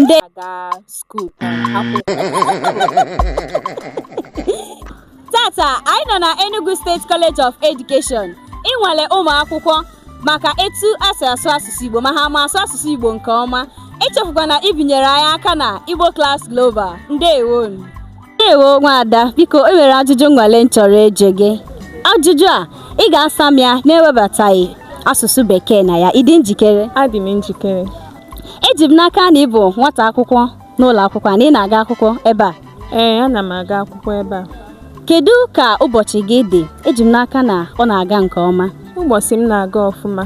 ndị aga skuul tata anyị nọ na Enugu State College of Education ịnwale ụmụ akwụkwọ maka etu ha si asụ asụsụ Igbo ma ha ma asụ asụsụ Igbo nke ọma echefukwana ibinyere anyị aka na Igbo Class Global ndewo nụ ndewo nwaada biko e nwere ajụjụ nnwale m chọrọ ịjụ gị ajụjụ a ị ga-asa m ya na-ewebataghị asụsụ bekee na ya ị dị njikere adị m njikere eji m n'aka na ị bụ nwata akwụkwọ n'ụlọ akwụkwọ na ị na-aga akwụkwọ ebe a ee ana m aga akwụkwọ ebe a kedu ka ụbọchị gị dị eji m n'aka na ọ na-aga nke ọma ụbọchị m na-aga ọfụma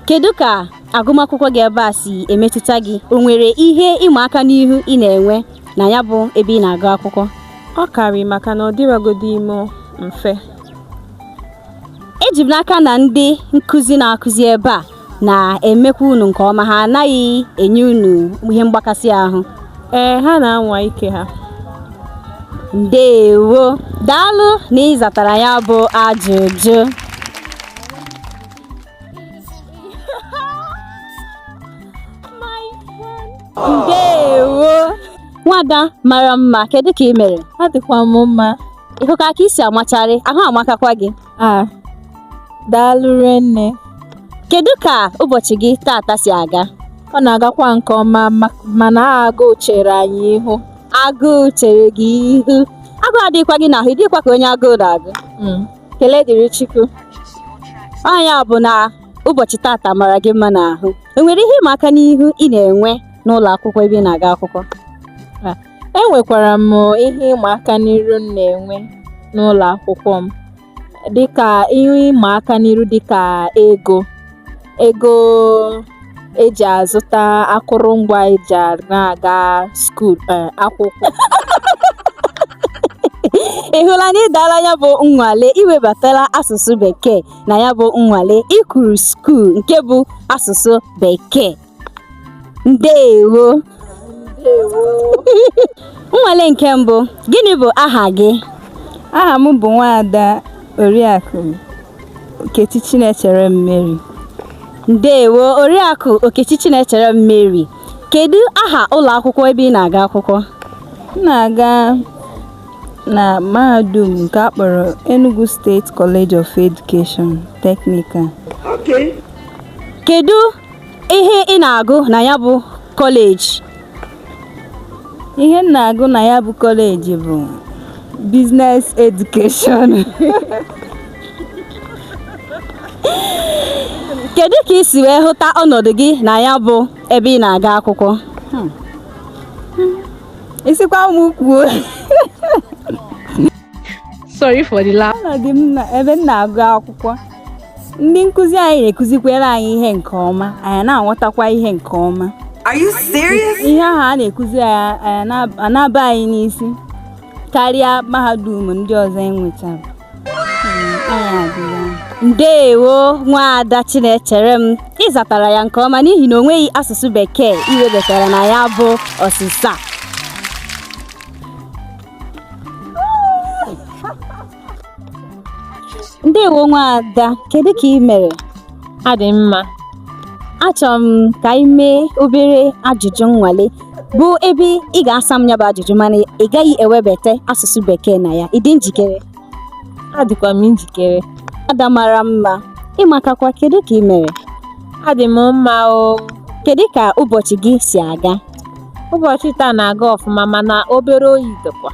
kedu ka agụmakwụkwọ gị ebe a si emetụta gị o nwere ihe ịma aka n'ihu ị na-enwe na ya bụ ebe ị na-agụ akwụkwọ ọ karị maka na ọ dịrọgodi ime mfe eji m n'aka na ndị nkụzi na-akụzi ebe a na-emekwa unu nke ọma ha anaghị enye unu ihe mgbakasị ahụ ee ha na-anwa ike ha ndewo daalụ na ị zatara ya bụ ajụjụ ndewo nwada mara mma kedu ka ị mere adịkwa m mma ị hụkwa ka i si amacharị ahụ amakakwa gị daalụ nne kedu ka ụbọchị gị tata si aga ọ na-agakwa nke ọma mana agụụ chere anyị ihu agụụ chere gị ihu agụụ adịghịkwa gị n'ahụ ị dịghịkwa ka onye agụụ na-agụ hmm. ekele dịrị Chukwu nya bụ na ụbọchị tata mara gị mma n'ahụ e nwere ihe ịma aka n'ihu ị na-enwe n'ụlọ akwụkwọ ebe ị na-aga akwụkwọ enwekwara m ihe ịma aka n'iru m na-enwe n'ụlọ akwụkwọ m dịka ihe ịma aka n'iru dịka ego ego e ji azụta akụrụngwa e ji na-aga skuul e, akwụkwọ ị hụla na ị daala ya bụ nnwale i webatala asụsụ bekee na ya bụ nnwale i kwuru skuul nke bụ asụsụ bekee ndewo nnwale nke mbụ gịnị bụ aha gị aha m bụ nwaada Oriakụ Okechi Chinechere Mary. Ndewo Oriakụ Okechi Chinechere Mary. Kedu aha ụlọ akwụkwọ ebe ị na-aga akwụkwọ? M na-aga Na mahadum nke a kpọrọ Enugu State College of Education, Technical. Okay. Kedu ihe ị na-agụ na ya bụ kọleji? Ihe m na-agụ na ya bụ kọleji bụ Business Education. Kedu ka ị si wee hụta ọnọdụ gị na ya bụ ebe ị na-aga akwụkwọ hmm. ị sịkwa m kwuo sorry for the laugh ọnọdụ m na ebe m na-agụ akwụkwọ ndị nkụzi anyị na-ekụzikwere anyị ihe nke ọma anyị na-aghọtakwa ihe nke ọma Are you serious? ihe ahụ a na-ekụzi anyị na-aba anyị n'isi karịa mahadum ndị ọzọ e nwechara ndeewo nwaada chinechere m ị zatara ya nke ọma n'ihi na o nweghị asụsụ bekee i webatara na ya bụ ọsịsa ndeewo nwaada kedu ka ị mere adị mma achọrọ m ka anyị mee obere ajụjụ nnwale bụ ebe ị ga-asa m ya bụ ajụjụ mana ị gaghị ewebata asụsụ bekee na ya ị dị njikere adịkwa m njikere ada mara mma ị makakwa kedu ka ị mere adị m mma o kedu ka ụbọchị gị si aga ụbọchị taa na-aga ọfụma mana obere oyi dịkwa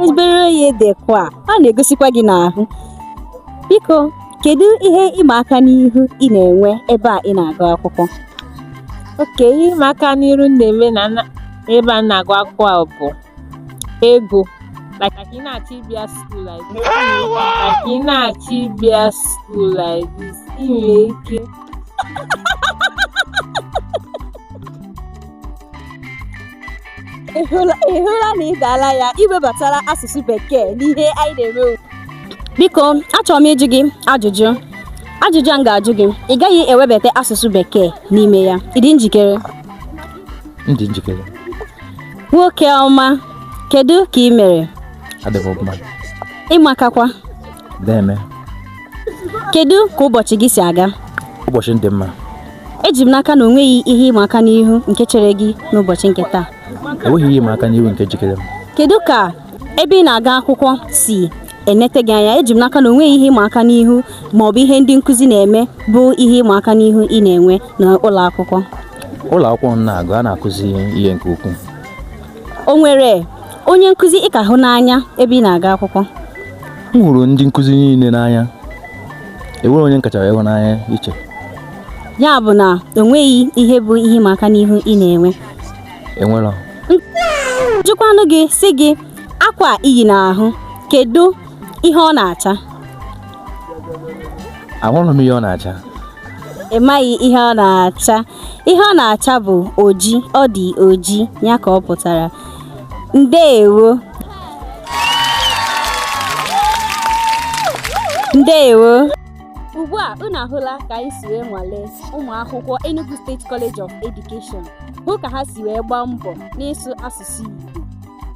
obere oyi dịkwa ọ na-egosikwa gị n'ahụ biko Kedu ihe ịma aka n'ihu ị na-enwe ebe a ị na-agụ akwụkwọ? Okay ihe ịma aka n'iru m na-eme na na- ebe a m na-agụ akwụkwọ a bụ ego. Like like ị na-achọ ịbịa school like this. Like ị na-achọ ịbịa school like this. Ị nwere ike Ị hụla ị hụla na ị daala ya i webatara asụsụ bekee n'ihe anyị na-eme ugbu Biko, achọrọ m ịjụ gị ajụjụ. Ajụjụ a m ga-ajụ gị, ị gaghị ewebata asụsụ bekee n'ime ya. Ị dị njikere? M dị njikere. Nwoke ọma, kedu ka ị mere? Adị m ọma. Ị makakwa. Deeme. kedu ka ụbọchị gị si aga ụbọchị m dị mma eji m n'aka na o nweghị ihe ịma aka n'ihu nke chere gị n'ụbọchị nke taa enweghị ihe ịma aka n'ihu nke jikere m kedu ka ebe ị na-aga akwụkwọ si enete gị anya eji m n'aka na o nweghị ihe ịma aka n'ihu ma ọ bụ ihe ndị nkụzi na-eme bụ ihe ịma aka n'ihu ị na-enwe n'ụlọ akwụkwọ ụlọ akwụkwọ m na-agụ a na-akụzi ihe nke ukwuu o nwere onye nkụzi ị ka hụ n'anya ebe ị na-aga akwụkwọ m hụrụ ndị nkụzi niile n'anya enwere onye m kacha ịhụ n'anya iche ya bụ na o nweghị ihe bụ ihe ịma aka n'ihu ị na-enwe e were jụkwanụ gị sị gị akwa i yi n'ahụ kedu ihe ọ na-acha ahụrụ m ihe ọ na-acha ị maghị ihe ọ na-acha ihe ọ na-acha bụ oji ọ dị oji ya ka ọ pụtara ndeewo ndeewo ugbu a unu ahụla ka anyị si wee nwalee ụmụ akwụkwọ Enugu State College of Education hụ ka ha si wee gbaa mbọ n'ịsụ asụsụ Igbo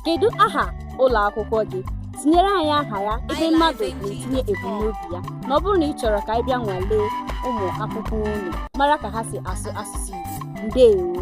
kedu aha ụlọ akwụkwọ gị tinyere anyị aha ya ebe mmadụ na-etinye ebumnobi ya na ọ bụrụ na ị chọrọ ka anyị bịa nwalee ụmụ akwụkwọ unu mara ka ha si asụ asụsụ Igbo ndeewo